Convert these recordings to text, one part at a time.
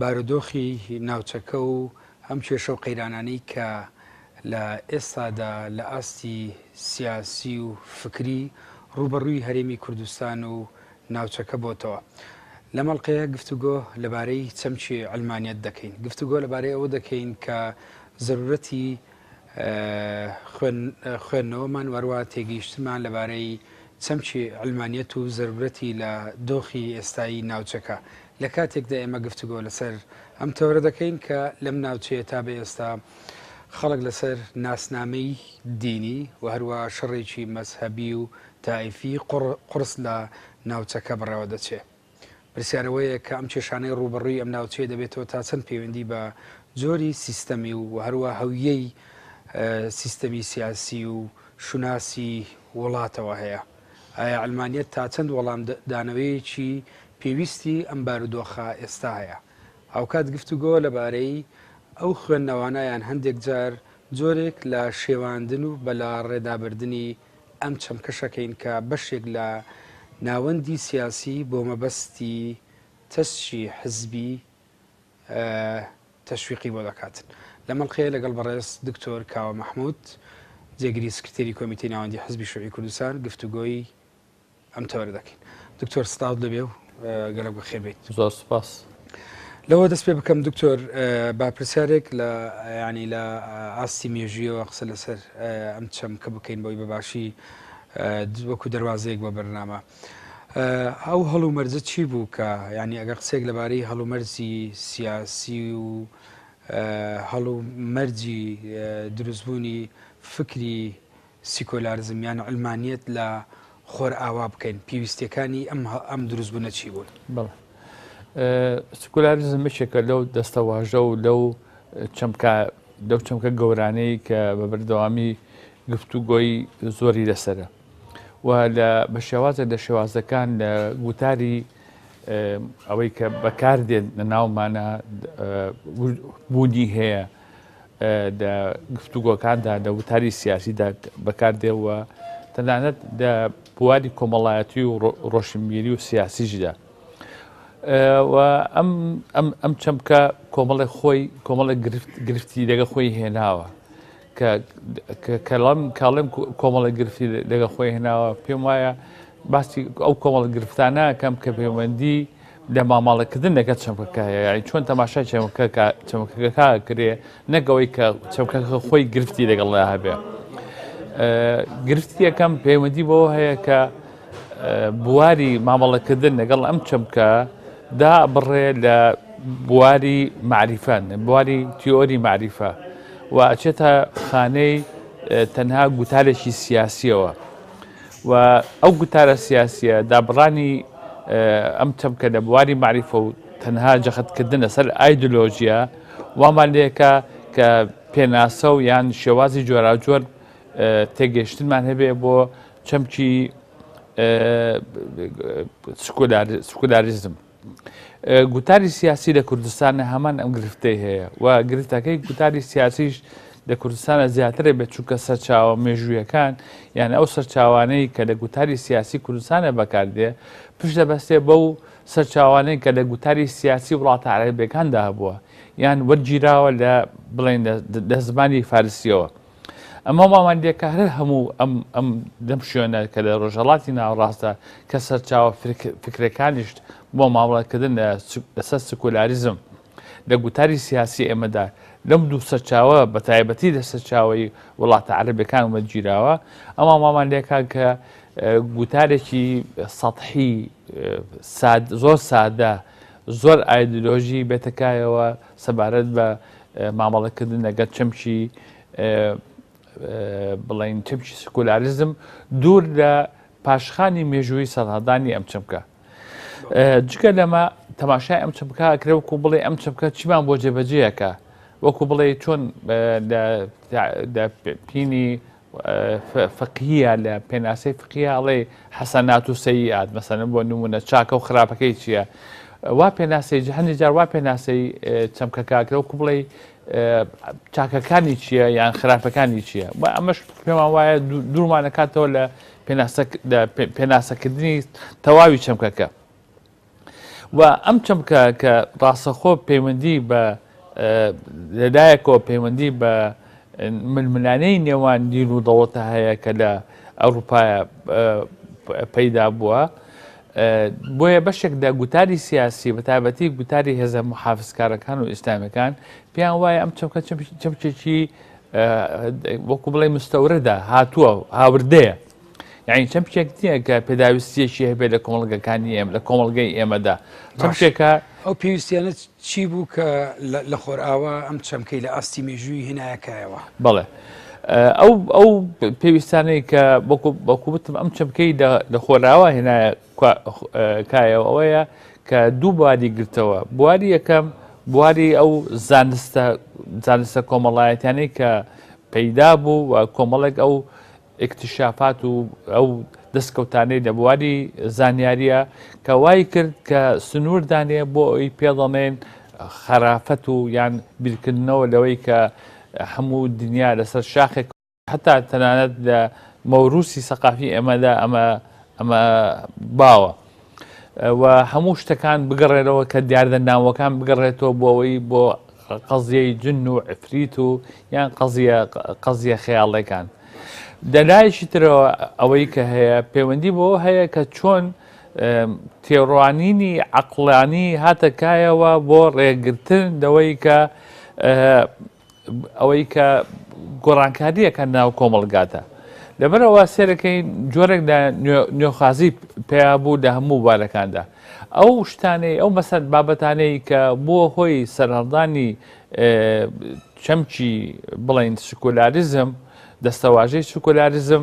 بارودۆخی ناوچەکە و ئەم کێشە و قەیرانانەی کە لە ئێستادا لە ئاستی سیاسی و فکری ڕووبەڕووی هەرێمی کوردستان و ناوچەکە بۆتەوە لەم ئەڵقەیە گفتوگۆ لەبارەی چەمکی عەلمانیەت دەکەین گفتوگۆ لەبارەی ئەوە دەکەین کە زەرورەتی خوێندنەوەمان وەروە تێگەیشتمان لەبارەی چەمکی عەلمانیەت و زەرورەتی لە دۆخی ئێستایی ناوچەکە لە کاتێکدا ئێمە گفتوگۆ لەسەر ئەم تەوەرە دەکەین کە لەم ناوچەیە تا بە ئێستا خەڵک لەسەر ناسنامەی دینی و هەروە شەڕێکی مەزهەبی و تائیفی قوڕس لە ناوچەکە بەڕێوە دەچێ. پرسیارەوەیە کە ئەم کێشانەی ڕووبەڕووی ئەم ناوچەیە دەبێتەوە تا چەند پەیوەندی بە جۆری سیستەمی و و هەروە هەویەی سیستەمی سیاسی و شوناسی وڵاتەوە هەیە. ئایا عەلمانیەت تا چەند وەڵام دانەوەیەکی پێویستی ئەم بارودۆخە ئێستایە؟ هاوکات گفتوگۆ لەبارەی ئەو خوێندنەوانە یان هەندێک جار جۆرێک لە شێواندن و بەلا ڕێدابردنی ئەم چەمکەشەکەین کە بەشێک لە ناوەندی سیاسی بۆ مەبەستی تەسکی حزبی تەشویقی بۆ دەکات. لەم ئەڵقەیە لەگەڵ بەڕێز دکتۆر کاوە مەحمود، جێگری سکرتێری کۆمیتەی ناوەندی حزبی شوعی کوردستان گفتوگۆی ئەم تەوەرە دەکەین. دکتۆر سڵاوت لەبێ و گەلەک بەخێر بیت. زۆر سوپاس. لەوە دەست پێ بکەم دکتۆر با پرسیارێک لە ینی لە ئاستی مێژویەوە قسە لەسەر ئەم چەمکە بکەین بۆی بەباشی وەکو دەروازەیەک بۆ بەرنامە. ئەو هەڵومەرجە چی بوو کە یعنی ئەگەر قسێک لەبارەی هەڵومەرجی سیاسی و هەڵومەرجی دروستبوونی فکری سیکۆلارزم یان علمانیت لە خۆر ئاوا بکەین پێویستەکانی ئەم ئەم دروستبوونە چی بوون بڵ سکولاریزم بچێکە لەو دەستەواژە و لەو چەمکە لەو چەمکە گەورانەی کە بە بەردەوامی گفتوگۆی زۆری لەسرە و لە بە شێوازە لە شێوازەکان لە گوتاری ئەوەی کە بەکاردێن لە ناومانە بوونی هەیە لە گفتوگۆکاندا لە وتاری سیاسیدا بەکاردێەوە تەنانەت لە بواری کۆمەڵایەتی و ڕۆشنبیری و سیاسیشدا ئەم ئەم چەمکە کۆمەڵی خۆی کۆمەڵە گرفتی لەگە خۆی هێناوە کە کەڵم کاڵم کۆمەڵی گرفتی لەگە خۆی هێناوە پێم وایە باسی ئەو کۆمەڵە گرفتانەکەم کە پەیوەندی لە ماماڵەکردن لەگە چەمکەکەیە چۆن تەماشای چەمکە چەمکەکە کرێ نەگەوەی کە چەمکە خۆی گرفتی لەگەڵ لە هەبێ گرفتی یەکەم پەیوەندی بۆ هەیە کە بواری مامەڵەکردن لەگەڵ ئەم چەمکە دا بڕێ لە بواری معریفان بواری تیۆری معریفە و ئەچێتە خانەی تەنها گوتارێکی سیاسیەوە و ئەو گوتارە سیاسیە دابڕانی ئەم چەمکە لە بواری معریفە و تەنها جەخەتکردنە سەر ئایدۆلۆژیە وامان لێکە کە پێناسە و یان شێوازی جۆراجۆر تێگەشتنمان هەبێ بۆ چەمکی سکولاریزم گوتاری سیاسی لە کوردستانە هەمان ئەم گرفتەی هەیە و گرفتەکەی گوتاری سیاسیش لە کوردستانە زیاترە بێت چونکە سەرچاوە مێژوویەکان یان ئەو سەرچاوانەی کە لە گوتاری سیاسی کوردستانە بەکاردێ پشت دەبەستێ بەو سەرچاوانەی کە لە گوتاری سیاسی وڵاتە عربەکاندا هەبووە یان وەرگیراوە لە بڵێن لە زمانی فارسیەوە ئەم هەماوەندییە کە هەر هەموو ئەم ئەم دەم شوێنە کە لە ڕۆژهەڵاتی ناوەڕاستە کە سەرچاوە فکرەکانیشت بۆ مامەڵەکردن لەسەر سکولاریزم لە گوتاری سیاسی ئێمەدا لەم دوو سەرچاوە بە تایبەتی لە سەرچاوی وڵاتە عەربەکان وەگیراوە ئەما مامانلەکان کە گوتارێکی سەحی زۆر سادە زۆر ئایدلۆژی بێتەکایەوە سەبارەت بە مامەڵەکردن لەگەڵ چەمکی بڵین چەمکی سکولاریزم دوور لە پاشخانی مێژووی سەدادانی ئەم چەمکە جگە لەمە تەماشای ئەم چەمکە کرە وکو بڵێ ئەم چەمکە چیمان بۆ جێبەجەیەکە وەکو بڵێ چۆن لە پینی فقهیە لە پێناسەی فقیە ئەڵێ حەسەنات و سەیئات مەسەن بۆ نمونە چاکە و خراپەکەی چییە وا پێناسی جهنی جار وا پێناسی چەمکە کاکرە و کوبڵی چاکەکانی چییە یان خراپەکانی چییە و ئەمەش پێمان وایە دوورمانەکاتەوە لە پێناسەکردنی تەواوی چەمکەکە و ئەم چەمکە کە ڕاستەخۆ پەیوەندی بە لەلایەکەوە پەیوەندی بە ململانەی نێوان دین و دەوڵەتە هەیە کە لە ئەوروپایە پەیدا بووە بۆیە بەشێک لە گوتاری سیاسی بە تابەتی گوتاری هێزە محافزکارەکان و ئیسلامەکان پێیان وایە ئەم چەمکە چەمچێکی وەکو بڵێ مستەورەدا هاتووە هاوردەیە یعنی چەمچێک نییە کە پێداویستیەکی هەبێت لە کۆمەڵگەکانی ئێمە لە کۆمەڵگەی ئێمەدا چەمچێکە ئەو پێویستیانە چی بوو کە لە خۆرئاوا ئەم چەمکەی لە ئاستی مێژووی هێنایەکایەوە بڵێ ئەو ئەو پێویستانەی کە بەکوبتم ئەم چەمکەی لە خۆراوا هێنایە کایەوە ئەوەیە کە دوو بواری گرتەوە بواری یەکەم بواری ئەو زانستە زانستە کۆمەڵایەتیانەی کە پەیدا بوو و کۆمەڵێک ئەو ئیکتشافات و ئەو دەستکەوتانەی لە بواری زانیاریە کە وای کرد کە سنوور دانێ بۆ ئەوی پێ دەڵێن خەرافەت و یان بیرکردنەوە لەوەی کە هەموو دنیا لەسەر شاخێک حتا تەنانەت لە مەوروسی سەقافی ئێمەدا ئەمە ئەمە باوە. و هەموو شتەکان بگەڕێنەوە کە دیاردە ناوەکان بگەڕێتەوە بۆەوەی بۆ قەزیەی جن و ئەفریت و یان قەزیە قەزیە خەیاڵەکان دەلایشی ترەوە ئەوەی کە هەیە پەیوەندی بۆ هەیە کە چۆن تێڕوانینی عقلانی هاتەکایەوە بۆ ڕێگرتن دەوەی کە ئەوەی کە گۆڕانکارییەکە ناو کۆمەڵگادا لەبەرەوە سێرەکەی جۆرێک لە نوێخوازی پێیا بوو لە هەموو بارەکاندا ئەو شتانەی ئەو مەسەر بابەتانەی کە بووە هۆی سەرهەڵدانی چەمکی بڵین سکولاریزم دەستەواژەی سکولاریزم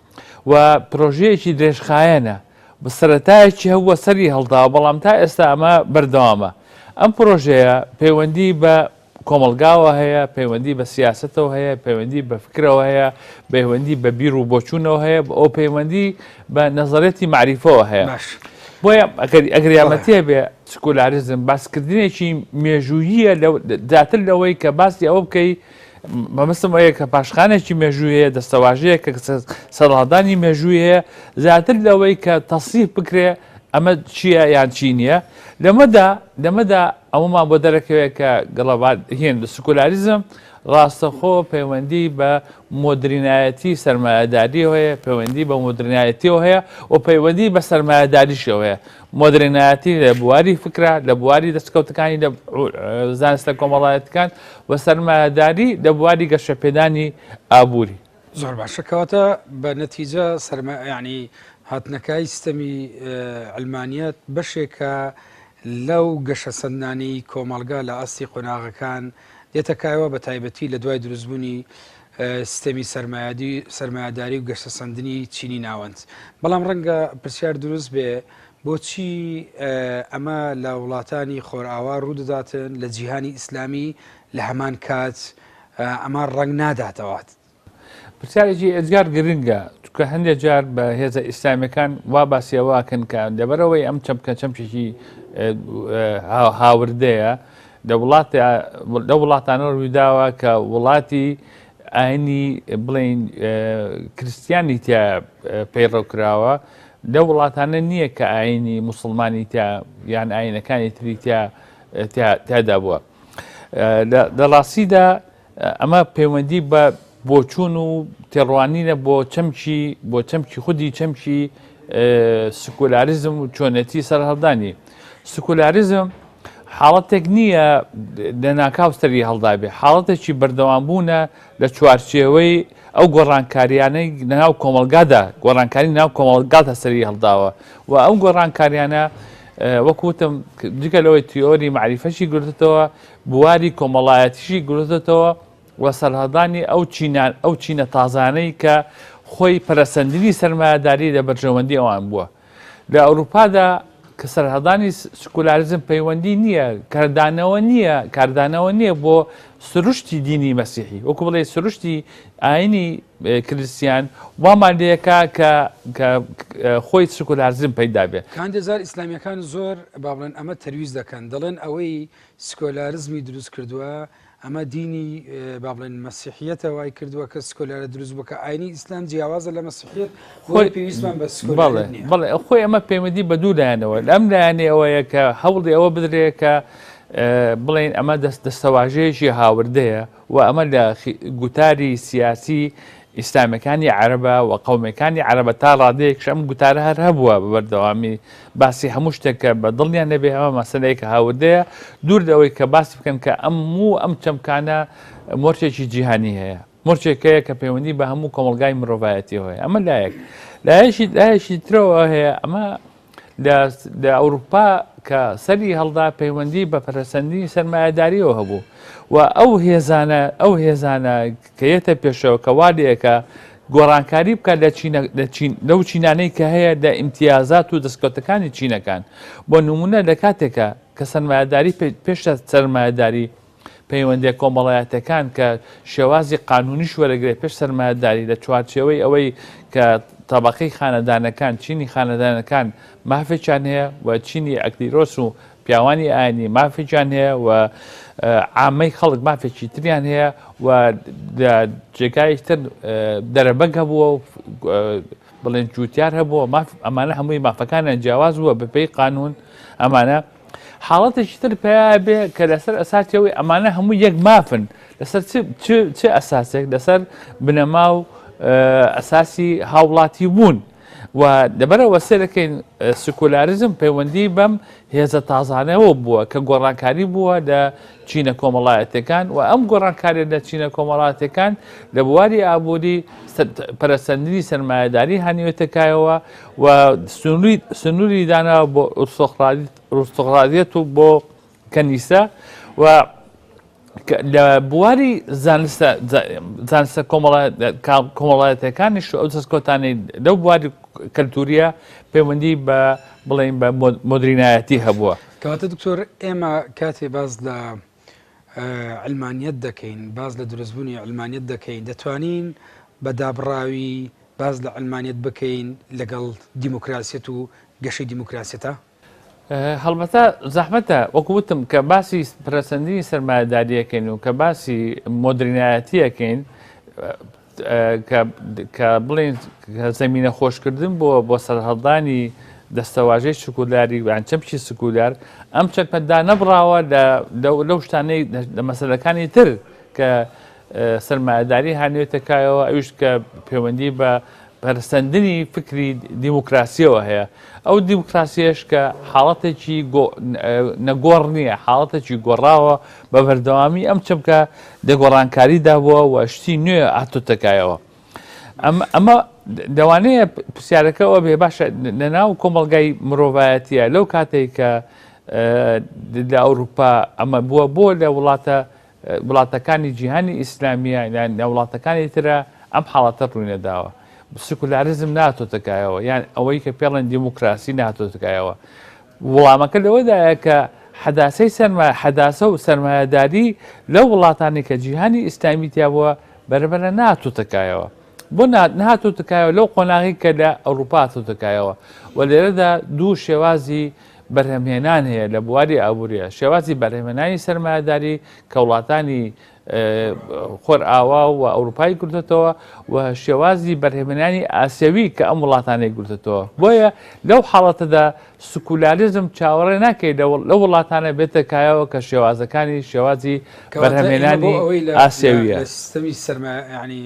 و پرۆژەیەکی درێژخایەنە، سەرەتایەکی هەبووە سەری هەڵداوە، بەڵام تا ئێستا ئەمە بەردەوامە. ئەم پرۆژەیە پەیوەندی بە کۆمەڵگاوە هەیە، پەیوەندی بە سیاسەتەوە هەیە، پەیوەندی بە فکرەوە هەیە، پەیوەندی بە بیر و بۆچوونەوە هەیە و پەیوەندی بە نەزەرەتی مەعریفەوە هەیە. باش. بۆیە ئەگەر ئەگەر بەڵێ. یارمەتی هەبێ سکۆلاریزم باسکردنێکی مێژووییە لەو زیاتر لەوەی کە باسی ئەوە بکەی مەبەستم ئەوەیە کە پاشخانێکی مێژووی هەیە دەستەواژەیە کە سەرڵادانی مێژووی هەیە زیاتر لەوەی کە تەسیف بکرێ ئەمە چییە یان چی نییە لەمەدا لەمەدا ئەومان بۆ دەرەکەوێت کە گەڵەبات هێن لە سکولاریزم ڕاستەخۆ پەیوەندی بە مۆدرینایەتی سەرمایهداریەوە هەیە پەیوەندی بە مۆدرنایەتیەوە هەیە و پەیوەندی بە سەرمایهداریشەوە هەیە مۆدرنایەتی لە بواری فکرە، لە بواری دەستکەوتەکانی لە زانستە کۆمەڵایەتیکان و سەرمایەداری لە بواری گەشەپێدانی ئابووری. زۆر باشە کەواتە بە نەتیجە سەرمە ینی هاتنەکای سیستەمی ئەلمانیت بەشێکە لەو گەشە سندانی کۆمەلگا لە ئاستی قۆناغەکان دێتە کایەوە بە تایبەتی لە دوای دروستبوونی سیستەمی سەرمایەداری و گەشەسەندنی چینی ناوەند. بەڵام ڕەنگە پرسیار دروست بێ بۆچی ئەمە لە وڵاتانی خۆرئاوا ڕوودەداتن لە جیهانی ئیسلامی لە هەمان کات ئەمە ڕەنگ ناداتەوات؟ پرسیارێکی ئێجگار گرنگە چکە هەندێک جار بە هێزە ئیسلامەکان وا باسیەوەکەن کە لەبەرەوەی ئەم چەمکە چەمکێکی هاوردەیە لە وڵاتانە روویداوە کە وڵاتی ئاینی بڵێین کریستیانی تیا پەیڕەو کراوە، لە وڵاتانە نییە کە ئاینی موسڵمانی تیا یان ئاینەکانی تری تیا تیادا بووە. لە ڕاستیدا ئەمە پەیوەندی بە بۆچوون و تێڕوانینە بۆ چەمکی بۆ چەمکی خودی چەمکی سکولاریزم و چۆنێتی سەرهەڵدانی سکولاریزم حاڵەتێک نییە لەناکاو سەری هەڵدابێ حاڵەتێکی بەردەوام بوونە لە چوارچێوەی ئەو گۆڕانکاریانەی ناو کۆمەلگادا گۆڕانکاری ناو کۆمەڵگاتە سەری هەڵداوە و ئەو گۆڕانکاریانە وەکوتم جگە لەوەی تیۆری معریفەشی گرتتەوە بواری کۆمەڵایەتیشی گرتۆتەوە و سەرهەڵدانی ئەو چینان ئەو چینە تازانەی کە خۆی پەرەسەندنی سەرمایەداری لە بەرژەوەندی ئەوان بووە لە ئەوروپادا کە سەرهەڵدانی سکولاریزم پەیوەندی نییە کاردانەوە نییە کاردانەوە نییە بۆ سروشتی دینی مەسیحی وەکو بڵێ سروشتی ئاینی کریسیان وامان لەکە کە خۆی سکولارزم پەیدا بێت کاندێزار ئیسلامیەکان زۆر با بڵێن ئەمە تەرویز دەکەن دەڵێن ئەوەی سکۆلارزمی دروست کردوە ئەمە دینی بابلێن مەسیحیەتە وای کردووە کە سکۆلارە دروست بکە ئاینی ئیسلام جیاوازە لە مەسیحیت خۆی پێویستمان بە بەڵێ ئەو خۆی ئەمە پەیوەندی بە دوو لایەنەوە لەم لایەنێ ئەوەیە کە هەوڵی ئەوە بدرێت کە بڵین ئەمە دەست دەستەواژەیەکی هاوردەیە وە ئەمە لە گوتاری سیاسی ئیسلامیەکانی عەرەبە وە قەومەکانی عەرەبە تا ڕادەیەکش ئەم گوتارە هەر هەبووە بە بەردەوامی باسی هەموو شتێک کە بە دڵنیان نەبێ ئەمە مەسەلەیەکە هاوردەیە دوور لەوەی کە باس بکەن کە ئەم موو ئەم چەمکانە مۆرچێکی جیهانی هەیە مۆرچێکەیە کە پەیوەندی بە هەموو کۆمەلگای مرۆڤایەتی هەیە ئەمە لایەک لایەشی لایەشی ترەوە هەیە ئەمە لە ئەوروپا کە سەری هەڵدا پەیوەندی بە پەرەسەندنی سەرمایەداریەوە هەبوو و ئەو هێزانە ئەو هێزانە کە یەتە پێشەوە کە وادەیەکە گۆڕانکاری بکات لەو چینانەی کە هەیە لە ئیمتیازات و دەستکەوتەکانی چینەکان بۆ نمونە لە کاتێکە کە سەرمایەداری پێشە سەرمایەداری پەیوەندییە کۆمەڵایەتییەکان کە شێوازی قانوونیش وەرەگرێت پێش سەرمایەداری لە چوارچێوەی ئەوەی کە تەبەقەی خانەدانەکان، چینی خانەدانەکان مافێکیان هەیە و چینی ئەکلیرۆس و پیاوانی ئاینی مافێکیان هەیە و عامەی خەڵک مافێکی تریان هەیە و جێگایش تر دەرەبەگ هەبووە و بڵێن جووتار هەبووە ماف ئەمانە هەمووی مافەکانیان جیاواز بووە بەپێی قانون ئەمانە حاڵەتێکی تر پیا بێ کە لەسەر ئەساسی ئەوەی ئەمانە هەموو یەک مافن لەسەر چ چ چ ئەساسێک لەسەر بنەما و اه، ئەساسی هاوڵاتی بوون و دەبەرەوە سێرەکەین اه، سکۆلاریزم پەیوەندی بەم هێزە تازانەوە بووە کە گۆڕانکاری بووە لە چینە کۆمەڵایەتەکان و ئەم گۆڕانکاری لە چینە کۆمەڵاتەکان لە بواری ئابووری سەر- پەرەسەندنی سەرمایهداری هانیوێتەکایەوە و سنووری داناوە بۆ ئوستوڕالیەت و بۆ کەنیسە و لە بواری زانستە کۆمەڵایەتەکانیش ئەو دەستکۆتانی لەو بواری کەلتوریە پەیوەندی بە بڵین بە مدرینایەتی هەبووە کەواتە دکتۆر ئێمە کاتێ باز لە عەلمانیەت دەکەین، باس لە دروستبوونی عەلمانیەت دەکەین، دەتوانین بە دابڕاوی باس لە عەلمانیەت بکەین لەگەڵ دیموکراسیەت و گەشەی دیموکراسیەتا؟ هەڵبەتە زەحمەتە وەکو وتم کە باسی پرەسەندنی سەرمایەداریەکەین و کە باسی مۆدرینایەتیەکەین کە بڵێن زەمینە خۆشکردن بۆ بۆ سەرهەڵدانی دەستەواژەی سکولاری یان چەمکی سکولار ئەم چەکمەدا نەبراوە لەو شتانەی لە مەسلەکانی تر کە سەرمایهداری هانوێتەکایەوە ئەوش کە پەیوەندی بە پەرسەندنی فکری دیموکراسیەوە هەیە ئەو دیموکراسیش کە حاڵەتێکی نەگۆڕ نییە حاڵەتێکی گۆڕاوە بە بەردەوامی ئەم چەمکە لە گۆڕانکاریدا بووە و شتی نوێ هاتۆتە کایەوە. ئەمە دەوانەیە پرسیارەکەەوە بێ باشە لەناو کۆمەلگای مرۆڤایەتە لەو کاتێک کە لە ئەوروپا ئەمە بووە بۆ لە وڵاتە وڵاتەکانی جیهانی ئیسلامیە لە وڵاتەکانی ترە ئەم حاڵەتە ڕووینەداوە. سکولارزم ناتۆتەکایەوە یان ئەوەی کە پێڵێن دیموکراسی ناتۆتەکایەوە. وڵامەکە لەوەدایە کە حەداسەی سەرمایە، حەداسە و سەرمایەداری لەو وڵاتانەی کە جیهانی ئیسلامی تیا بووە بەرەبەرە نەهاتۆتەکایەوە. بۆ نەهاتۆتەکایەوە؟ لەو قۆناغەی کە لە ئەوروپا هاتۆتەکایەوە و لێرەدا دوو شێوازی بەرهەمهێنان هەیە لە بواری ئابوورییە، شێوازی بەرهەمهێنانی سەرمایەداری کە وڵاتانی خۆرئاوا و ئەوروپای گرتێتەوە و شێوازی بەرهێمەنانی ئاسیەوی کە ئەم وڵاتانەی گرتێتەوە بۆیە لەو حاڵەتەدا سکولاریزم چاوەڕێ ناکەی لە وڵاتانە بێتە کایەوە کە شێوازەکانی شێوازی بەرهێمێنانی ئاسیەویە سیستەمی سەرمە ینی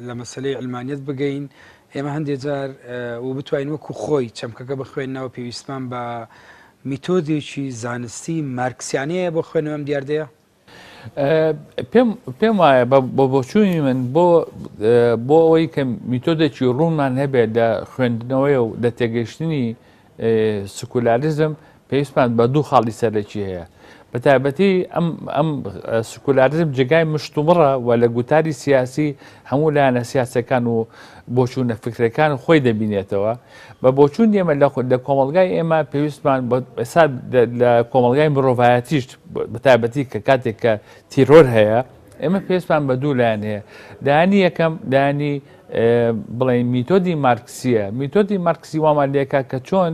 لە مەسلەی ئەلمانیت بگەین ئێمە هەندێک جار و بتوانین وەکو خۆی چەمکەکە بخوێندنەوە پێویستمان بە میتۆدێکی زانستی مارکسیانەیە بۆ خوێنەوەم دیاردەیە پێم پێم وایە بۆ بۆچووی من بۆ بۆ ئەوەی کە میتۆدێکی ڕوونمان هەبێت لە خوێندنەوەی و لە تێگەشتنی سکولاریزم پێویستمان بە دوو خاڵی سەرەکی هەیە بە تایبەتی ئەم ئەم سکولاریزم جێگای مشتومڕە و لە گوتاری سیاسی هەموو لایەنە سیاسەکان و بۆچوونە فکرەکان خۆی دەبینێتەوە بە بۆچوون دێمە لە خود لە کۆمەڵگای ئێمە پێویستمان ئێستا لە کۆمەڵگای مرۆڤایەتیشت بەتابەتی کە کاتێک کە تیرۆر هەیە ئێمە پێستمان بە دوو لایەن هەیە دانی یەکەم دانی بڵێ میتۆدی مارکسیە میتۆدی مارکسی وامان لێکا کە چۆن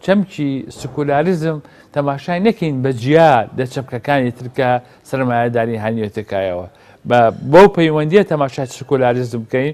چەمکی سکولاریزم تەماشای نەکەین بە جیا لە چەمکەکانی ترکە سرمایهداری هاانیێتەکایەوە بە بەو پەیوەندیە تەماشای سکولاریزم بکەین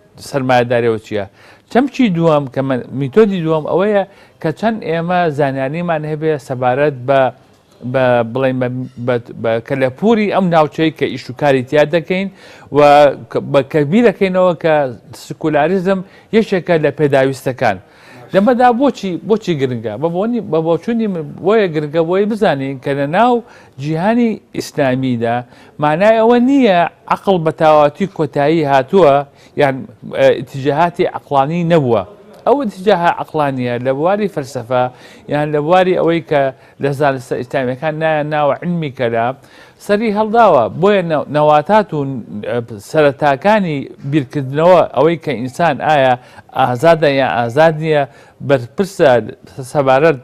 سەرمایەداریەوە چیە؟ چەمکی دووەم کە میتۆدی دووەم ئەوەیە کە چەند ئێمە زانیاریمان هەبێ سەبارەت بە بڵێن بە کەلەپوری ئەم ناوچەی کە ئیشوکاری تیا دەکەین و بە کەبیرەکەینەوە کە سکولاریزم یەکێکە لە پێداویستەکان لەمەدا بۆچی بۆچی گرنگە بە بۆنی بە بۆچوونی من بۆیە گرنگە بۆی بزانین کە لە ناو جیهانی ئیسلامیدا مانای ئەوە نییە عقل بە تاواتی کۆتایی هاتووە یان تجاهاتی عقلانی نەبووە ئەو تجاها عقلانیە لە بواری فەلسفە یان لە بواری ئەوەی کە لە زانستە ئیسلامیەکان نایە ناوە علمی کەلام سەری هەڵداوە، بۆیە نەواتات و سەرەتاکانی بیرکردنەوە، ئەوەی کە ئینسان ئایا ئازادە یان ئازاد نییە، بەرپرسە سەبارەت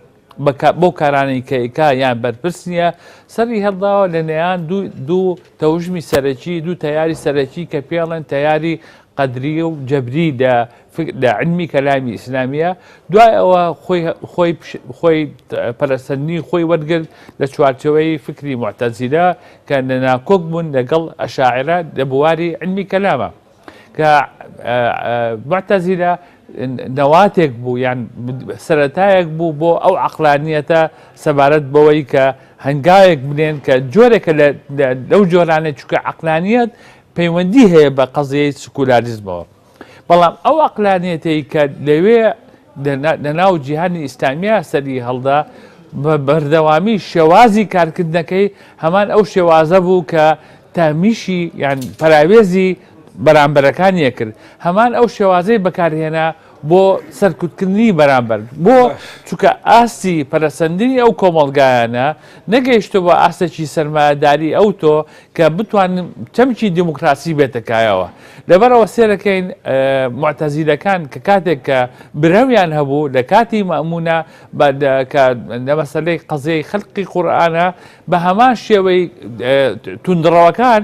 بەو کارانەی کە ئەیکا یان بەرپرس نییە، سەری هەڵداوە لە نێیان دوو تەوژمی سەرەکی، دوو تەیاری سەرەکی کە پێڵێن تەیاری قەدریە و جەبری لە عیلمی کەلامی ئیسلامیە، دوای ئەوە خۆی پەرەسەندنی خۆی وەرگرت لە چوارچێوەی فیکری موعتەزیلە کە لە ناکۆک بوون لەگەڵ ئەشاعیرە لە بواری عیلمی کەلامە کە موعتەزیلە نەواتێک بوو یان سەرەتایەک بوو بۆ ئەو عەقلانیەتە سەبارەت بەوەی کە هەنگاوێک بنێن کە جۆرێکە لەو جۆرانە چکە عەقلانیەت پەیوەندی هەیە بە قەزیەی سکولاریزمەوە بەڵام ئەو ئەقلانیەتەی کە لەوێ لەناو جیهانی ئیسلامیا سەری هەڵدا بە بەردەوامی شێوازی کارکردنەکەی هەمان ئەو شێوازە بوو کە تامیشی یان پراوێزی بەرامبەرەکانیە کرد هەمان ئەو شێوازەی بەکارهێنا بۆ سەرکوتکردنی بەرامبەر، بۆ چونکە ئاستی پەرەسەندنی ئەو کۆمەڵگایانە نەگەیشتووە بە ئاستێکی سەرمایەداری ئەوتۆ کە بتوانن چەمکی دیموکراسی بێتە کایەوە. لەبەرئەوە سێرەکەین موعتەزیلەکان کە کاتێک کە برەویان هەبوو لە کاتی مەئمونە بە کە لە مەسەلەی قەزیەی خەلقی قورئانە بە هەمان شێوەی توندڕەوەکان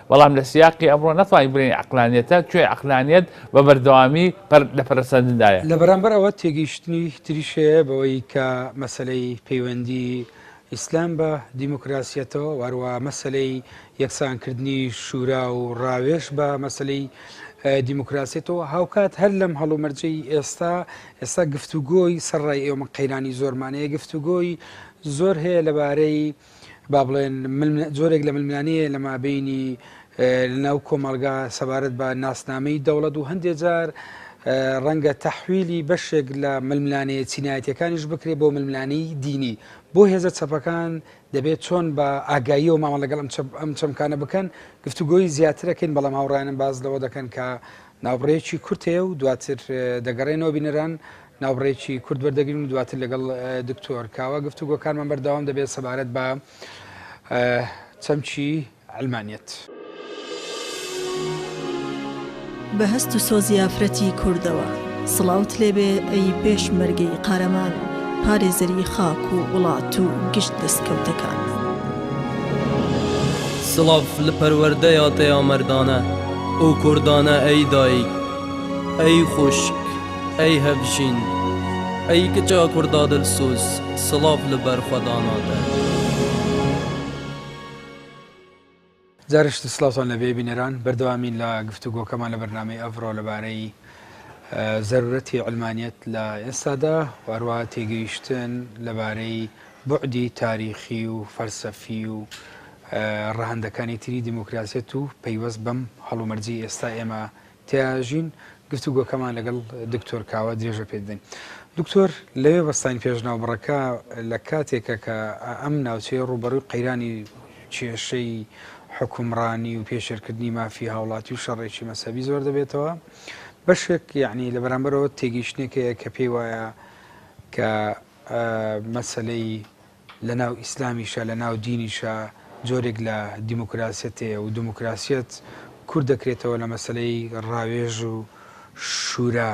بەڵام لە سیاقی ئەمڕۆ ناتوانین بڵێین عەقلانیەتە، چۆی عەقلانیەت بە بەردەوامی پەر لە پەرەسەندندایە. لە بەرامبەر ئەوە تێگەیشتنی تریش هەیە بەوەی کە مەسەلەی پەیوەندی ئیسلام بە دیموکراسیەتەوە و هەروەها مەسەلەی یەکسانکردنی شورا و ڕاوێژ بە مەسەلەی دیموکراسیەتەوە هاوکات هەر لەم هەڵومەرجەی ئێستا ئێستا گفتوگۆی سەر ڕای ئێوە من قەیرانی زۆرمانەیە گفتوگۆی زۆر هەیە لەبارەی با بڵێن جۆرێک لە ململانەیە لە مابینی لەناو کۆمەلگا سەبارەت بە ناسنامەی دەوڵەت و هەندێک جار ڕەنگە تەحویلی بەشێک لە ململانەیە چینایەتەکانیش بکرێت بۆ ململانی دینی بۆ هێزە چەپەکان دەبێت چۆن بە ئاگاییەوە مامە لەگەڵ ئەم چەمکانە بکەن گفتوگۆی زیاترەکەین بەڵام هاوڕانم باز لەوە دەکەن کە ناوڕێکی کورتەیە و دواتر دەگەڕێنەوە بینەران ناوبڕێکی کورت وەردەگرین و دواتر لەگەڵ دکتۆر کاوە گفتوگۆکانمان بەردەوام دەبێت سەبارەت بە چەمکی عەلمانیەت. بە هەست و سۆزی ئافرەتی کوردەوە. سڵاوت لێبێ ئەی پێشمەرگەی قارەمان و پارێزەری خاک و وڵات و گشت دەستکەوتەکان. سڵاڤ لە پەروەردەیا تەیا مەردانە ئەو کوردانە ئەی دایک ئەی خوشک. ئەی هەڤژین ئەی کچە کوردا دلسوز سڵاڤ لە بەر خوەداناتە. جارشت سڵاوتان لەبێ بینەران بەردەوامین لە گفتوگۆکەمان لە بەرنامەی ئەڤڕۆ لەبارەی زەرورەتی علمانیت لە ئێستادا واروا تێگەیشتن لەبارەی بعدی تاریخی و فەلسەفی و ڕەهندەکانی تری دیموکراسیت و پەیوەست بەم هەڵومەرجی ئێستا ئێمە تێیاژین، گفتوگۆکەمان لەگەڵ دکتۆر کاوە درێژە پێ دەدەین. دکتۆر، لەوێ بەستاین پێش ناوبڕەکە لە کاتێکە کە ئەم ناوچەیە ڕووبەڕووی قەیرانی کێشەی حوکمڕانی و پێشێلکردنی مافی هاوڵاتی و شەڕێکی مەزهەبی زۆر دەبێتەوە. بەشێک یەعنی لە بەرامبەرەوە تێگەیشتنێک هەیە کە پێی وایە کە مەسەلەی لە ناو ئیسلامیشا لە ناو دینیشا جۆرێک لە دیموکراسیەت هەیە و دیموکراسیەت کورت دەکرێتەوە لە مەسەلەی ڕاوێژ و شورا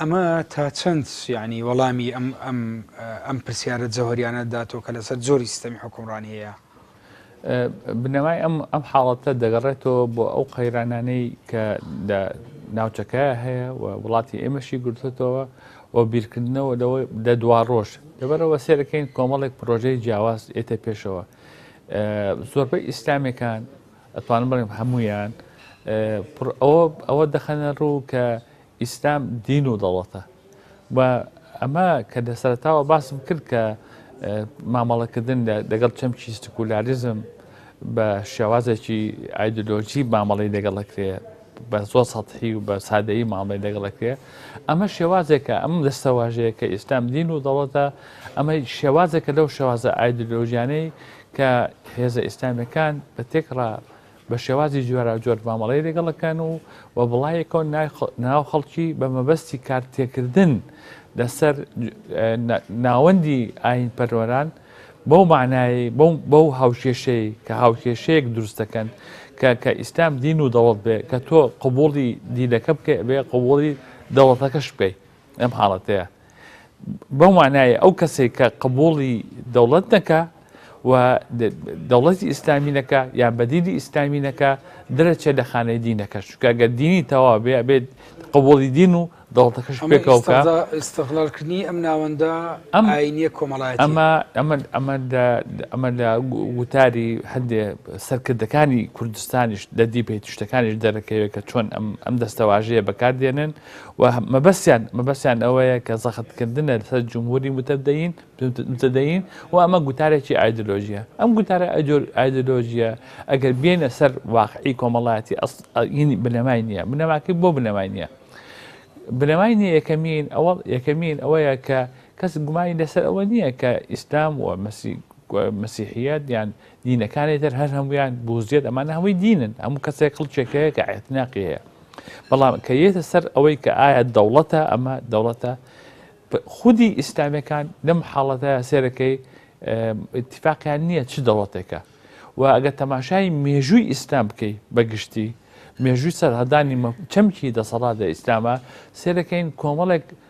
ئەمە تا چەند یعنی وەڵامی ئەم ئەم ئەم پرسیارە جەوهەریانە داتەوە کە لەسەر جۆری سیستەمی حکومڕانی هەیە؟ بنەمای ئەم ئەم حاڵەتە دەگەڕێتەوە بۆ ئەو قەیرانانەی کە لە ناوچەکە هەیە و وڵاتی ئێمەشی گرتوتەوە و بیرکردنەوە لەوە دە دوا ڕۆژ لەبەرەوە سێرەکەین کۆمەڵێک پرۆژەی جیاواز ئێتە پێشەوە زۆربەی ئیسلامەکان ئەتوانم بڵێم هەمویان ئەوە ئەوە دەخەنە ڕوو کە ئیسلام دین و دەوڵەتە و ئەمە کە لە سەرتاوە باسم کرد کە مامەڵەکردن لەگەڵ چەمکی سکولاریزم بە شێوازێکی ئایدۆلۆژی مامەڵی لەگەڵەکرێ بە زۆر سەحی و بە سادەیی مامەی لەگەڵەکرێ ئەمە شێوازێکە ئەم دەستەواژەیە کە ئیسلام دین و دەڵەتە ئەمە شێوازێکە لەو شێوازە ئایدۆلۆژیانەی کە هێزە ئیسلامەکان بە تێکڕا بە شێوازی جۆراوجۆر مامەڵەی لەگەڵ دەکەن و و بڵایەکەوە ناو خەڵکی بە مەبەستی کار تێکردن لەسەر ناوەندی ئاین پەرۆران بەو معنایی بەو هاوکێشەی کە هاوکێشەیەک دروست دەکەن کە کە ئیسلام دین و دەوڵەت بێ کە تۆ قوبوڵی دینەکە بکەی بێ قوبوڵی دەوڵەتەکەش بکەیت لەم حاڵەتەیە بەو مانایە ئەو کەسێک کە قبوڵی دەوڵەت نەکە و دەوڵەتی ئیسلامینەکە یان بەدیدی ئیسلامینەکە درەچێت لە خانەی دینەکە شکگە دینی تەوا بێ بێت قبولی دین و دەوڵەتەکەش پێکەوەکە ئستغلالکردنی ئەم ناوەندە ئەم ئاینە کۆمەڵای ئەمە ئەمە ئەمە ئەمە لە وتاری هەندێ سەرکردەکانی کوردستانیش لە دیپی تشتەکانیش دەرەکەوێت کە چۆن ئەم دەستەواژەیە بەکاردێنن و مەبەستیان مەبەستیان ئەوەیە کە زەختکردنە لەسەر جمهوری متدەین متدەین و ئەمە گوتارێکی ئایدۆلۆژیە ئەم گوتارە ئایدۆلۆژیە ئەگەر بێنە سەر واقعی کۆمەڵایەتی ئەسڵینی بنەمای نییە بنەماکەی بۆ بنەمای نییە بنەمای نیە یەکەمین ئەوە یەکەمین ئەوەیە کە کەس گومانی لەسەر ئەوە نییە کە ئیسلام و مەسی مسیحیت یان دینەکانی تر هەر هەمویان بوزیێت ئەمانە هەمووی دینن هەموو کەسێک کڵچێکەیە کە عێتناقی هەیە بەڵام کە یێتە سەر ئەوەی کە ئایا دەوڵەتە ئەمە دەوڵەتە خودی ئیسلامیەکان لەم حاڵەتە سێرەکەی اتفاقیان نییە چ دەوڵەتێکە و ئەگە تەماشای مێژووی ئیسلام بکەیت بەگشتی مێژووی سەرهدانی چەمکی دەسەڵات لە ئیسلامە سێرەکەین کۆمەڵێک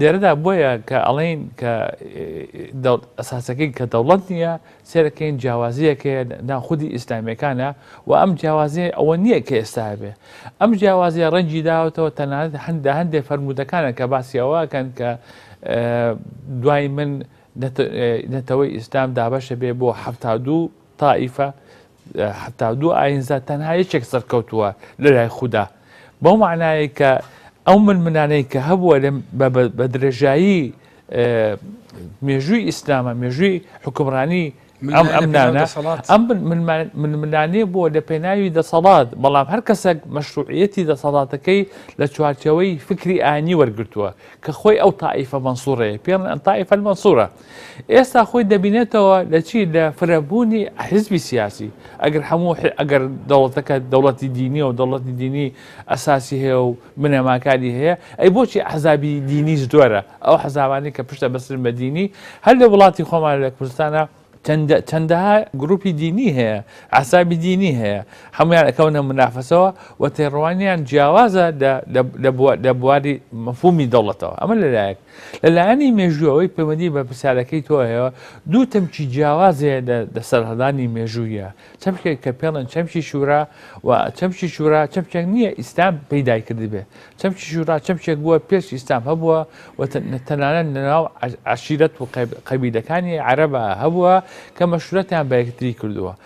لێرەدا بۆیە کە ئەڵێین کە ئەساسەکەی کە دەوڵەت نییە سێرەکەین جیاوازیەکەیە ناو خودی ئیسلامیەکانە و ئەم جیاوازی ئەوە نییە کە ئێستا بێ ئەم جیاوازیە ڕەنجی داوەتەوە تەنانەت هەندە هەندێک فەرمودەکانە کە باسیەوەکەن کە دوای من نەتەوەی ئیسلام دابەشە بێ بۆ هەفتا دوو تائیفە، حەتا دوو ئایینزا، تەنها یەکێک سەرکەوتووە لەلای خودا. بەو مەعنایەی کە ئەو ململانێی کە هەبووە لە بە درێژایی مێژووی ئیسلامە مێژووی حکومڕانی ئەم ئەمنانە ئەم ململانێ بووە لە پێناوی دەسەڵات بەڵام هەر کەسێک مەشروعەتی دەسەڵاتەکەی لە چوارچەوەی فکری ئانی وەرگتووە کە خۆی ئەو تائیفە مەنسوڕەیە پێڵ ئەن تائیفەل مەسوورە ئێستا خۆی دەبینێتەوە لە چی لە فرەبوونی حیزبی سیاسی ئەگەر هەموو ئەگەر دەوڵەتەکە دەوڵەتی دینی و دەوڵەتی دینی ئەساسی هەیە و بنەماکانی هەیە ئەی بۆچی حەزابی دینی زۆرە ئەو حەزاوانی کە پشتە بەسرن بە دینی هەر لە وڵاتی خۆمان لە کوردستانە چەندەها گروپی دینی هەیە ئاسابی دینی هەیە هەمویان ئەکەونە منافەسەوە و تێڕوانیان جیاوازە لە بواری مەفومی دەوڵەتەوە ئەمە لەلایەک لە لایەنی مێژوو ئەوەی پەیوەندی بە پرسیارەکەی تۆ هەیە دوو تەمکی جیاوازێ لە سەرهەڵدانی مێژوویە چەمکێک کە پێڵن چەمکی شورا و چەمکی شورا چەمکێک نییە ئیسلام پەیدای کردبێ چەمکی شورا چەمکێک بووە پێش ئیسلام هەبووە و تەنانەت لەناو عشیرەت و قەبیلەکانی عەرەبا هەبووە کە مەشورەتیان بە یەکتری کردووە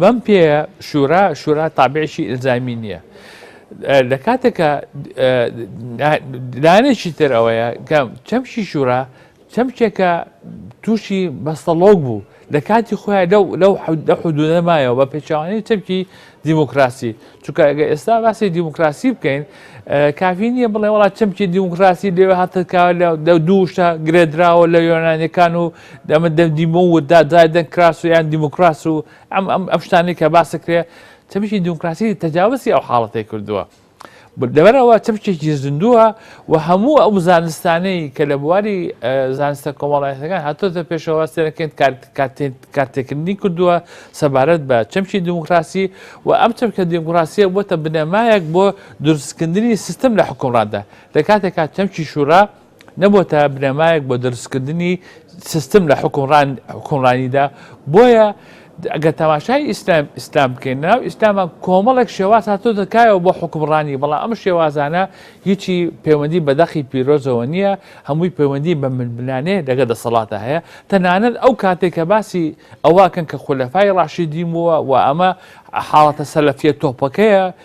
بەم پێیە شورا شورا تابعێکی ئلزامی نییە لە کاتێکە لایەنێکی تر ئەوەیە کە چەمشی شورا چەمچێکە تووشی بەستەڵۆک بوو لە کاتی خۆیان لەو لەو حودە حدودە مایەوە بە پێچوانی چەمکی دیموکراسی چونکە ئەگە ئێستا باسی دیموکراسی بکەین کافی نییە بڵێ وڵات چەمکی دیموکراسی لێوە هاتکە لە دوو شتا گرێدراوە لە یۆنانەکان و دەمە دەم دیمۆ و دا دای دەنگ کراس و یان دیموکراس و ئەم ئەم ئەم شتانی کە باسە کرێ تەبیی دیموکراسی تەجاوزی ئەو حاڵەتی کردووە. دەبەرەوە چەمچێکی زیندووە و هەموو ئەو زانستانەی کە لە بواری زانستە کۆمەڵایەتەکان هاتۆتە پێشەوە سێنەکەین کارتێکردنی کردووە سەبارەت بە چەمکی دیموکراسی و ئەم چەمکە دیموکراسیە بۆتە بنەمایەک بۆ دروستکردنی سیستم لە حکومڕاندا لە کاتێکا چەمکی شورا نەبۆتە بنەمایەک بۆ دروستکردنی سیستم لە حکومڕانیدا بۆیە ئەگە تەماشای ئیسلام ئیسلام بکەین ناو ئیسلامە کۆمەڵێک شێواز هاتۆ دەکایەوە بۆ حکومڕانی بەڵام ئەم شێوازانە هیچی پەیوەندی بەدەقی پیرۆزەوە نییە هەمووی پەیوەندی بە منبنانێ دەگە دەسەڵاتە هەیە تەنانەت ئەو کاتێک کە باسی ئەوواکەن کە خولەفای ڕاشی دیمەوە و ئەمە حاڵەتە سەلەفە تۆپەکەیە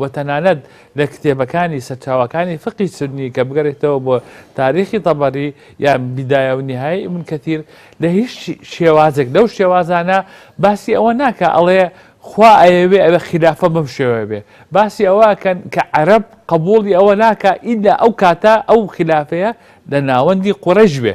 و تەنانەت لە کتێبەکانی سەرچاوەکانی فقی سوننی کە بگەرێتەوە بۆ تاریخی تەبەری یان بیدایە و نیهای ئیبن کەتیر لە هیچ شێوازێک لەو شێوازانە باسی ئەوە ناکە ئەڵێ خوا ئەیەوێ ئەوێ خلافە بەم شێوە بێ باسی ئەوەکەن کە عەرب قبولی ئەوە ناکە ئیدا ئەو کاتە ئەو خلافەیە لە ناوەندی قوڕش بێ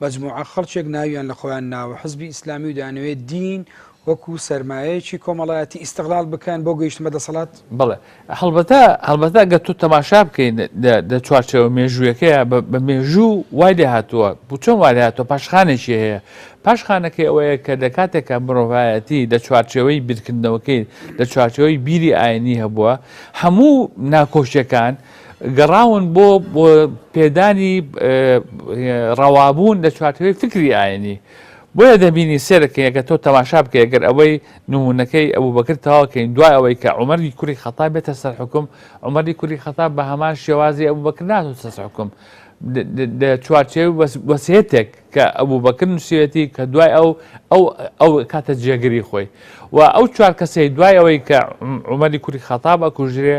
مەجموعە خەڵکێک ناویان لە خۆیان ناوە حزبی ئیسلامی و دەیانەوێ دین وەکوو سەرمایەیەکی کۆمەڵایەتی ئیستغلال بکەن بۆ گەیشتن بە دەسەڵات؟ بەڵێ. هەڵبەتە هەڵبەتە گەر تۆ تەماشا بکەی لە چوارچێوە مێژوویەکەیە بە مێژوو وای لێ هاتووە بوو چۆن وای لێ هاتووە پاشخانێکی هەیە پاشخانەکەی ئەوەیە کە لە کاتێکە مرۆڤایەتی لە چوارچێوەی بیرکردنەوەکەی لە چوارچێوەی بیری ئاینی هەبووە هەموو ناکۆشیەکان گەڕاون بۆ پێدانی ڕەوابوون لە چوارچێوەی فیکری ئاینی. بۆیە دەبینی سێرەکەی ئەگەر تۆ تەماشا بکەی ئەگەر ئەوەی نموونەکەی ئەبوبەکر تەواوکەین دوای ئەوەی کە عومەری کوری خەتاب بێتە سەر حکم عومەری کوری خەتاب بە هەمان شێوازی ئەبوبەکر ناتۆ سەر حکم لە چوارچێوی وەسیەتێک کە ئەبوبەکر نووسیوێتی کە دوای ئەو ئەو ئەو کاتە جێگری خۆی و ئەو چوار کەسەی دوای ئەوەی کە عومەری کوری خەتاب ئەکوژرێ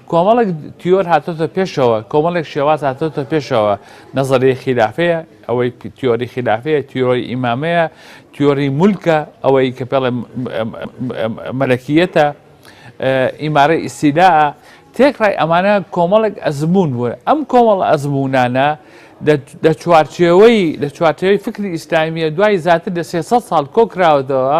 کۆمەڵێک تیۆر هاتۆتە پێشەوە کۆمەڵێک شێواز هاتۆتە پێشەوە نەزەری خلافەیە ئەوەی تیۆری خلافەیە تیۆری ئیمامەیە تیۆری مولکە ئەوەی کە پێڵێ مەلەکیەتە ئیمارە ئیسیلا تێکڕای ئەمانە کۆمەڵێک ئەزمون بوون ئەم کۆمەڵ ئەزمونانە لە چوارچێوەی لە چوارچێوەی فکری ئیسلامیە دوای زیاتر لە 300 ساڵ کۆکراوەتەوە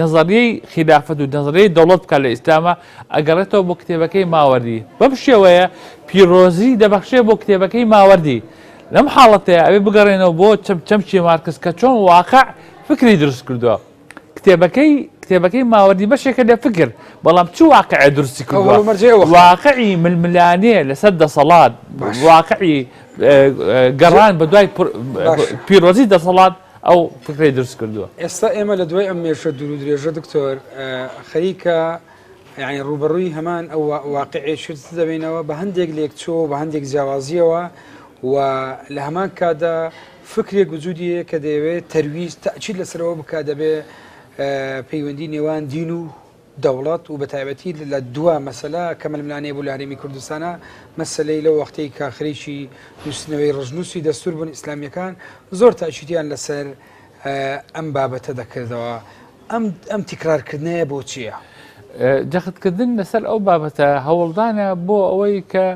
نەزەریەی خیلافەت و نەزەریەی دەوڵەت بکات لە ئیسلامە ئەگەڕێتەوە بۆ کتێبەکەی ماوەردی بەم شێوەیە پیرۆزی دەبەخشێ بۆ کتێبەکەی ماوەردی لەم حاڵەتەیە ئەوێ بگەڕێنەوە بۆ چەم چەمچی مارکس کە چۆن واقع فکری دروست کردووە کتێبەکەی کتێبەکەی ماوەدی بەشێکە لە فکر بەڵام چ واقعە درستی کردوە واقعی ململانێ لەسەر دەسەڵات واقعی گەڕان بە دوای پیرۆزی دەسەڵات ئەو فکرەی دروست کردووە. ئێستا ئێمە لە دوای ئەم مێشە دوور و درێژە دکتۆر خەریکە یعنی ڕوبەڕووی هەمان ئەو واقعێ شت دەبینەوە بە هەندێک لێکچۆ بە هەندێک جیاوازیەوە و لە هەمان کادا فکرێک وجودیە کە دەیەوێت تەرویز تاچیل لەسەرەوە بک دەبێ پەیوەندی نێوان دین و دەوڵەت و بەتایبەتی لە دوا مەسەلە کە ململانێ بوو لە هەرێمی کوردستانا، مەسەلەی لەو وەختەی کە خەریکی نووسینەوەی ڕەشنووسی دەستوور بوون، ئیسلامییەکان زۆر تاکیدیان لەسەر ئەم بابەتە دەکردەوە. ئەم ئەم تیکرارکردنەیە بۆچییە؟ جەختکردن لەسەر ئەو بابەتە هەوڵدانە بۆ ئەوەی کە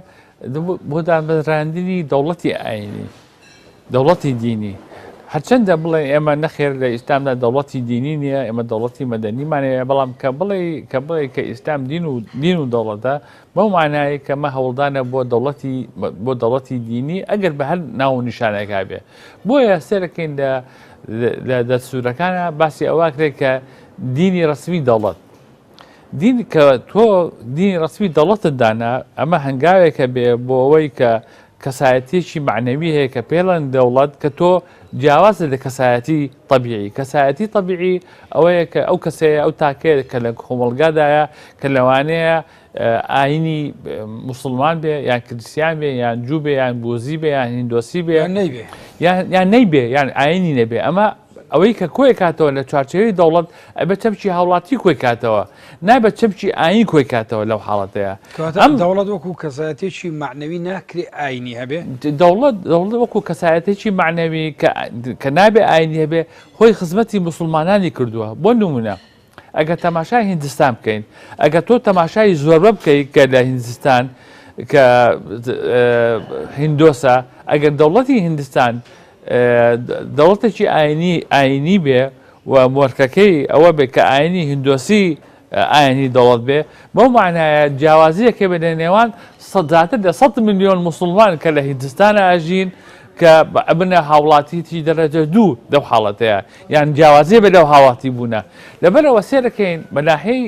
بۆ دامەزراندنی دەوڵەتی ئاینی دەوڵەتی دینی هەرچەندە بڵێ ئێمە نەخێر لە ئیسلامدا دەوڵەتی دینی نییە ئێمە دەوڵەتی مەدەنیمانەیە بەڵام کە بڵێ کە بڵێ کە ئیسلام دین و دین و دەوڵەتە بەو مانایی کەمە هەوڵدانە بۆ دەوڵەتی بۆ دەوڵەتی دینی ئەگەر بە هەر ناو نیشانەکە بێ بۆیە سێرەکەین لە لە دەسوورەکانە باسی ئەوە کرێت کە دینی ڕسمی دەوڵەت دین کە تۆ دینی ڕەسمی دەوڵەتت دانا ئەمە هەنگاوێکە بێ بۆ ئەوەی کە کەسایەتیەکی معنەوی هەیە کە پێڵەن دەوڵەت کە تۆ جیاوازە لە کەسایەتی طببیعی کەسایەتی طببیعی ئەوەیە کە ئەو کەسەیە ئەو تاکەیە کە لە کۆمەلگادایە کە لەوانەیە ئاینی مسلمان بێ یان کریسیان بێ یان جوو بێ یان بۆزی بێ یان هندۆسی بێ یان نەیبێ یان ئاینی نەبێ ئەمە ئەوەی کە کۆی کاتەوە لە چوارچێوەی دەوڵەت ئەبێ چەمکی هاوڵاتی کۆی کاتەوە نابێت چەمکی ئاین کۆی کاتەوە لەو حاڵەتەیە ئەم دەوڵەت وەکو کەسایەتێکی معنەوی ناکرێ ئاینی هەبێ دەوڵەت دەوڵەت وەکو کەسایەتێکی معنەوی کە نابێ ئاینی هەبێ خۆی خزمەتی مسلمانانی کردووە بۆ نمونە ئەگەر تەماشای هیندستان بکەین ئەگەر تۆ تەماشای زۆربە بکەی کە لە هیندستان کە هندۆسە ئەگەر دەوڵەتی هیندستان دەوڵەتێکی ئاینی ئاینی بێ و مۆرکەکەی ئەوە بێ کە ئاینی هندۆسی ئاینی دەوڵەت بێ بەو معناایە جیاوازیەکە بێ لە نێوان سەداتر لە 100 میلیۆن مسلمان کە لە هیندستان ئاژین کە ئەبنە هاوڵاتیی دەرەجە دوو لەو حاڵەتەیا یان جیاوازیێ بێ لەو هاواتی بوونە لەبەرەوە سێرەکەین بەناهەی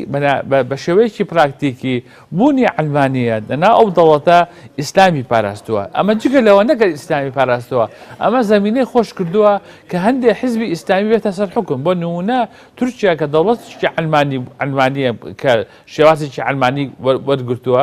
بە شێوەیەکی پراکتیکی بوونی ئەلمانە دەنا ئەو دەوڵەتە ئیسلامی پاراستووە ئەمە جگە لەوە نەگەر ئیسلامی پاراستەوە ئەمە زمینەی خۆش کردووە کە هەندێک حزبی ئیسلامی بێتە سەر حکم بۆ نمونە تورکیا کە دەوڵەتشتی ئەلمانی ئەلمانە کە شێوازێکی ئەلمانی وەرگتووە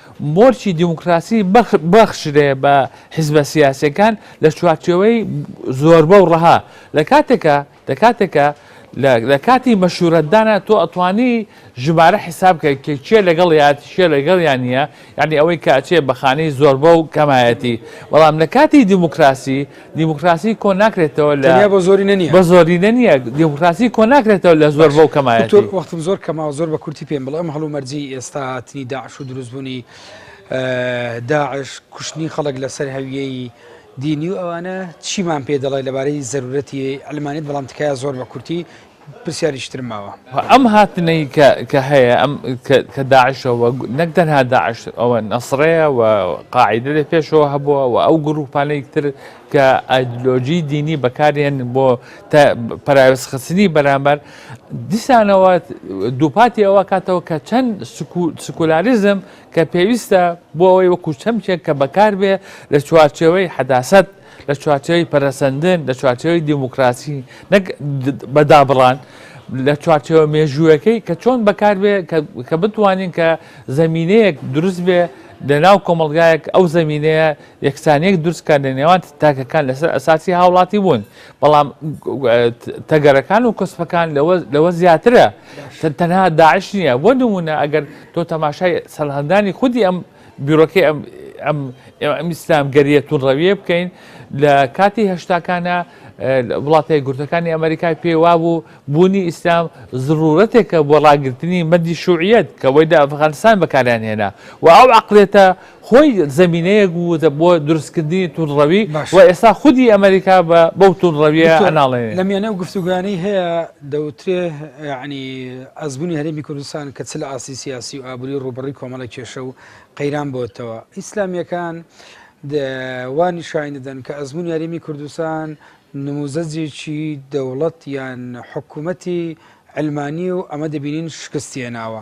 مۆرکی دیموکراسی ببەخشرێ بە حیزبە سیاسیەکان لە چوارچێوەی زۆربە و ڕەها لە کاتێکا لە کاتێکا لە کاتی مەشورەتدانە تۆ ئەتوانی ژمارە حیساب کە کێ لەگەڵ یات شێ لەگەڵ یان نیە یعنی ئەوەی کاچێ بەخانەی زۆربە و کەمایەتی بەڵام لە کاتی دیموکراسی دیموکراسی کۆ ناکرێتەوە لە تەنیا بە زۆری نە نییە. بە زۆری نە نییە. دیموکراسی کۆ ناکرێتەوە لە زۆر بەو کەمایەتی. دکتۆر وەختم زۆر کەمە زۆر بە کورتی پێم بڵێ ئەم هەڵومەرجی ئێستا هاتنی داعش و دروستبوونی داعش کوشتنی خەڵک لەسەر هەویەی دینی و ئەوانە چیمان پێ دەڵێ لەبارەی زەرورەتی عەلمانیەت بەڵام تکایە زۆر بە کورتی پرسیاریکی ترم ماوە. ئەم هاتنەی کە هەیە ئەم کە داعشە و نەک تەنها داعش ئەوە نەسڕەیە و قاعیدە لە پێشەوە هەبووە و ئەو گروپانەی تر کە ئایدلۆجی دینی بەکارێن بۆ پراوێزخستنی بەرامبەر دیسانەوە دووپاتی ئەوە کاتەوە کە چەند سکولاریزم کە پێویستە بۆ ئەوەی وەکو چەمچێک کە بەکاربێ لە چوارچەوەی حەداست لە چوارچێوەی پەرەسەندن لە چوارچێوەی دیموکراسی نەک بەدابڕان لە چوارچێوە مێژووەکەی کە چۆن بەکاربێ کە بتوانین کە زمینەیەک دروست بێ لە ناو کۆمەلگایەک ئەو زمینەیە یەکسانەیەک دروستکە لە نێوان تاکەکان لەسەر ئەساسی هاوڵاتی بوون بەڵام تەگەرەکان و کەسپەکان لەوە زیاترە تەنها داعش نییە بۆ نمونە ئەگەر تۆ تەماشای سەرهەندانی خودی ئەم بیرۆکەی ئەم ئەم ئەم ئیسلام گەریە تونڕەویە بکەین لە کاتی هەشتاکانە وڵاتە گورتەکانی ئەمریکای پێوا بوو بوونی ئیسلام زڕورەتێکە بۆ ڕاگررتنی مەدی شوعیت کە وەی لە ئەفغانستان بەکاریان هێنا و ئەو عقلێتە خۆی زمینەیەک بوو بۆ دروستکردنی تونڕەوی و ئێستا خودی ئەمریکا بە بەو تونڕەویە ئەناڵێن لە میانە و گفتوگانی هەیە دەوترێ یەعنی ئەزموونی هەرێمی کوردستان کە چ لە ئاستی سیاسی و ئابووری ڕووبەڕی کۆمەڵە کێشە و قەیران بۆتەوە ئیسلامیەکان وانی شاین دەدەن کە ئەزمموون یاریمی کوردستان نموزەجێکی دەوڵەت یان حکوومەتی ئەلمانی و ئەمە دەبینین شکستێناوە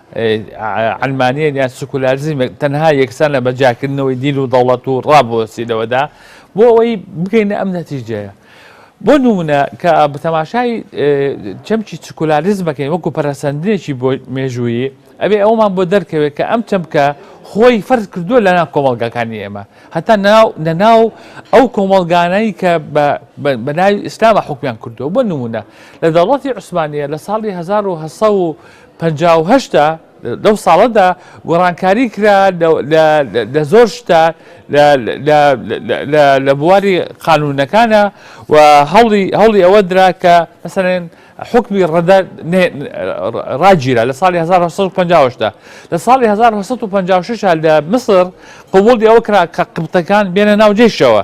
عەلمانیەت یان سکولاریزمێک تەنها یەکسانە بە جیاکردنەوەی دین و دەوڵەت و ڕا بۆسیلەوەدا بۆ ئەوەی بگەینە ئەم نەتیجەیە بۆ نمونە کە بە تەماشای چەمکی سکولاریزمەکەی وەکو پەرەسەندنێکی بۆ مێژوویی ئەبێ ئەومان بۆ دەرکەوێت کە ئەم چەمکە خۆی فەرز کردووە لە ناو کۆمەلگاکانی ئێمە هەتا ناو نەناو ئەو کۆمەلگانەی کە بە ناوی ئیسلامە حکومیان کردووە بۆ نمونە لە دەوڵەتی عوسمانە لە ساڵی 1970 پەنجا و هەشت لەو ساڵەدا گۆڕانکاری کرا لە زۆر شتە لە بواری قانونەکانە و هەوڵی ئەوە درا کە مەسەرێن حکمی ڕەدە ڕاگیرا لە ساڵی 1950دا لە ساڵی 1956 لە مسر قوبڵی ئەوە کرا کە قبتەکان بێنە ناوجێشەوە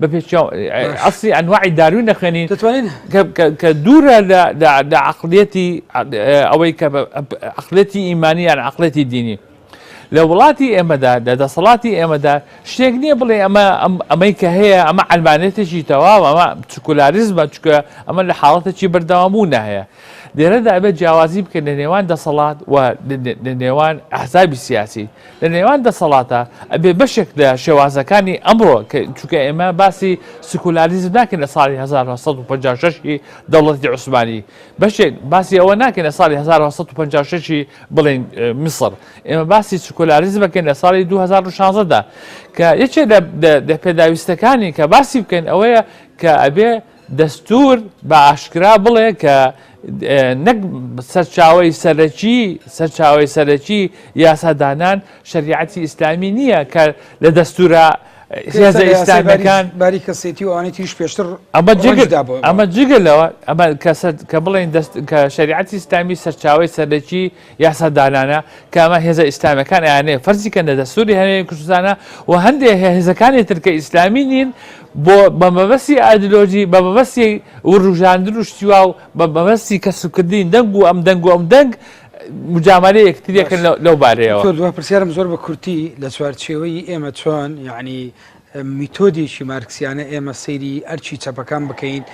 بەپێ ئەسی ئەنوعی داروی نەخوێنین دەتوانین کە دوورە لە عقلەتی ئەوەی کە عقلەتی ئیمانی یان عقلەتی دینی لە وڵاتی ئێمەدا لە دەسەڵاتی ئێمەدا شتێک نییە بڵێ ئەمە ئەمەی کە هەیە ئەمە ئەلمانێتێکی تەواو ئەمە سکولاریزمە چکە ئەمە لە حاڵەتێکی بەردەوامبوو نهەیە لێرەدا ئەبێت جیاوازی بکەن لە نێوان دەسەڵات و لە نێوان ئەحزابی سیاسی لە نێوان دەسەڵاتە ئەبێ بەشێک لە شێوازەکانی ئەمڕۆ کە چونکە ئێمە باسی سکولاریزم ناکەین لە ساڵی 1956 ی دەوڵەتی عوسمانی بەشێک باسی ئەوە ناکەین لە ساڵی 1956 ی بڵین میسر ئێمە باسی سکولاریزمەکەین لە ساڵی 2016 دا کە یەکێ لە پێداویستەکانی کە باسی بکەین ئەوەیە کە ئەبێ دەستوور بە ئاشکرا بڵێ کە نەک سەرچاوەی سەرەکی سەرچاوەی سەرەکی یاسادانان شریعەتی ئیسلامی نییە کە لە دەستورە هێزە ئیسلامیەکان باری کەسێتی و ئەوانی تریش پێشتر ئەمە جگدا ئەمە جگە لەوە ئەمە کە بڵێن کە شریعەتی ئیسلامی سەرچاوی سەرەکی یاسا دانانە کە ئەمە هێزە ئیسلامیەکان ئەیانەیە فەرزی کەن لە دەستوری هەرێمی کوردستانە و هەندێک هێزەکانی تر کە ئیسلامی نین بۆ بە مەبەستی ئایدلۆژی بە مەبەستی وروژاندن و شتیوا و بە مەبەستی کەسوکردنی دەنگ و ئەم دەنگ و ئەم دەنگ مجاملە یەکتریەکن لەو بارەیەوە دکتۆر دوای پرسیارم زۆر بە کورتی لە چوارچێوەی ئێمە چۆن یعنی میتۆدێکی مارکسیانە ئێمە سەیری ئەرکی چەپەکان بکەین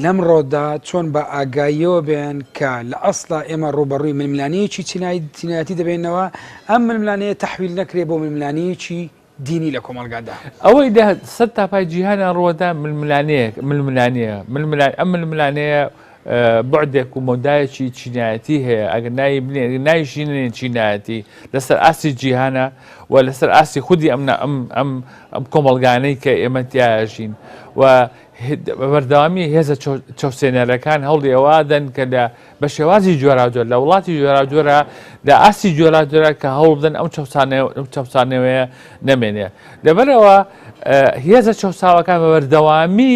لەمڕۆدا چۆن بە ئاگاییەوە بێن کە لە ئەسڵا ئێمە ڕوبەڕووی ململانەیەکی چینایی چینایەتی دەبێنەوە ئەم ململانەیە تحویل نەکرێ بۆ ململانەیەکی دینی لە کۆمەڵگادا ئەوەی لە سەر تاپای جیهانیان ڕوەدا ململانەیە ململانەیە ململان ئەم ململانەیە بوعدێک و مەودایەکی چینایەتی هەیە، ئەگەر ناوی بنێین، ناویشی نەنێین چینایەتی، لەسەر ئاستی جیهانە و لەسەر ئاستی خودی ئەم نا- ئەم- ئەم- ئەم کۆمەڵگانەی کە ئێمە تیایا ئەژین و هێ- بە بەردەوامی هێزە چەو- چەوسێنەرەکان هەوڵی ئەوە دەن کە لە بە شێوازی جۆراوجۆر لە وڵاتی جۆراوجۆرا لە ئاستی جۆراوجۆرا کە هەوڵ بدەن ئەو چەوسانەوە- ئەو چەوسانەوەیە نەمێنێ. لەبەرئەوە ئە، هێزە چەوساوەکان بە بەردەوامی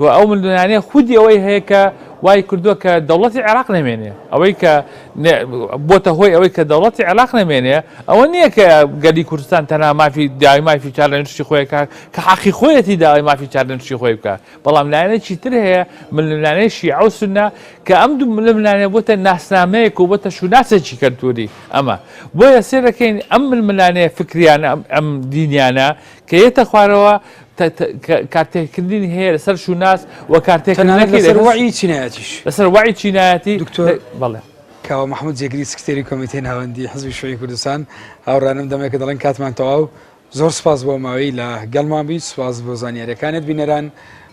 و ئەو ململانێ خودی ئەوەی هەیە کە وای کردووە کە دەوڵەتی عێراق نەمێنێ ئەوەی کە بۆتە هۆی ئەوەی کە دەوڵەتی عێراق نەمێنێ ئەوە نییە کە گەلی کوردستان تەنها مافی داوای مافی چارلێنشی خۆیەکە کە حەقی خۆیەتی داوای مافی چارلێنشی خۆی بکە بەڵام لایەنێکی تر هەیە ململانێ شیعە و سنە کە ئەم دوو ململانێ بۆتە ناسنامەیەک و بۆتە شوناسێکی کەلتوری ئەمە بۆیە سێ دەکەین ئەم ململانێ فکریانە ئەم دینیانە کە یەتە خوارەوە کارتێکردنی هەیە لەسەر شوناس و کارتێکردنەکەی لەسەر تەنانەت لەسەر وەعی چینایەتیش لەسەر وەعی چینایەتی دکتۆر بەڵێ کاوە محمود جێگری سکرتێری کۆمیتەی ناوەندی حزبی شوعی کوردستان هاوڕانم دەمێکە دەڵێن کاتمان تەواو زۆر سپاس بۆ ماوەی لە گەڵمان بوویت سپاس بۆ زانیاریەکانت بینەران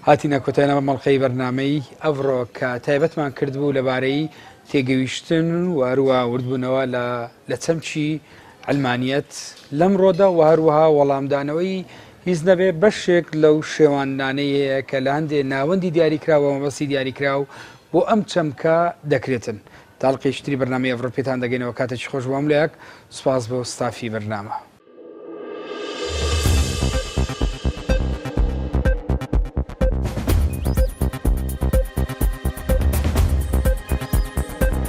هاتینە کۆتایەوە مەڵقەی بەرنمەی ئەڤڕۆ کە تایبەتمان کرد بوو لەبارەی تێگەویشتن و هەروە وردبوونەوە لە لە چەمکی علمانیت لەمڕۆدا و هەروەها وەڵامدانەوەی هیچ نەبێ بەشێک لەو شێواندنانەی هەیە کە لە هەندێ ناوەندی دیاریکراو بە مەبەستی دیاریکراو بۆ ئەم چەمکە دەکرێتن. تا ئەڵقەیەکی تری بەرنامەی ئەڤڕۆ پێتان دەگەینەوە کاتێکی خۆش بۆ هەموو لایەک سوپاس بۆ ستافی بەرنامە.